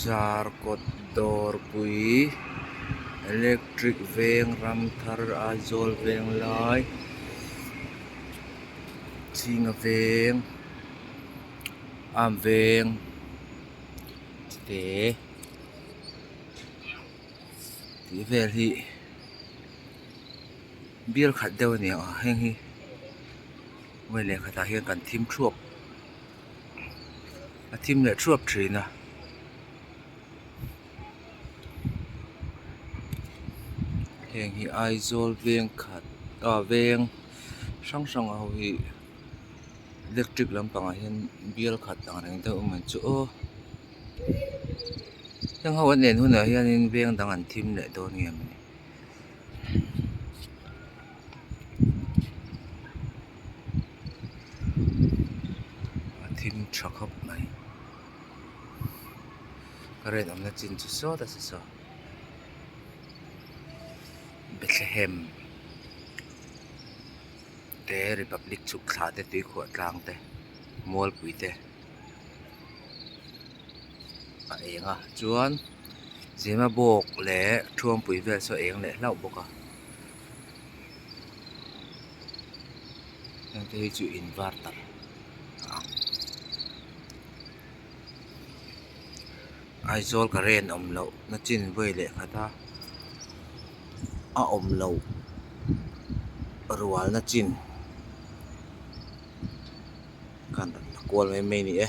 zar kawt dawr pui electric veng ram thar aizawl veng lai chhinga veng am veng chite tih vel hi bial khat deuh a ni ang a heng hi lehkhatah hian kan thim thuap. a thim leh thuap thin a. Heng hi Aizawl veng khat ah veng hrang hrang ho hi electric lampang ah hian bial khat ang reng deuh a man chu aw heng ho an en hunah hian veng dang an thim leh dawn nge maw ni. a thim tha khawp mai ka rawn awmna chin chu sawta si saw bethlehem te republic chhuk thla te tuikhuah tlang te mualpui te a eng a chuan zimabawk leh thawngpui vel saw a eng leh hlauh bawk a. heng te hi chu in var tak a ang aizawl ka ren awm loh na chin vawi leh khat a a awm loh rual na chin khan kual mai mai ni e.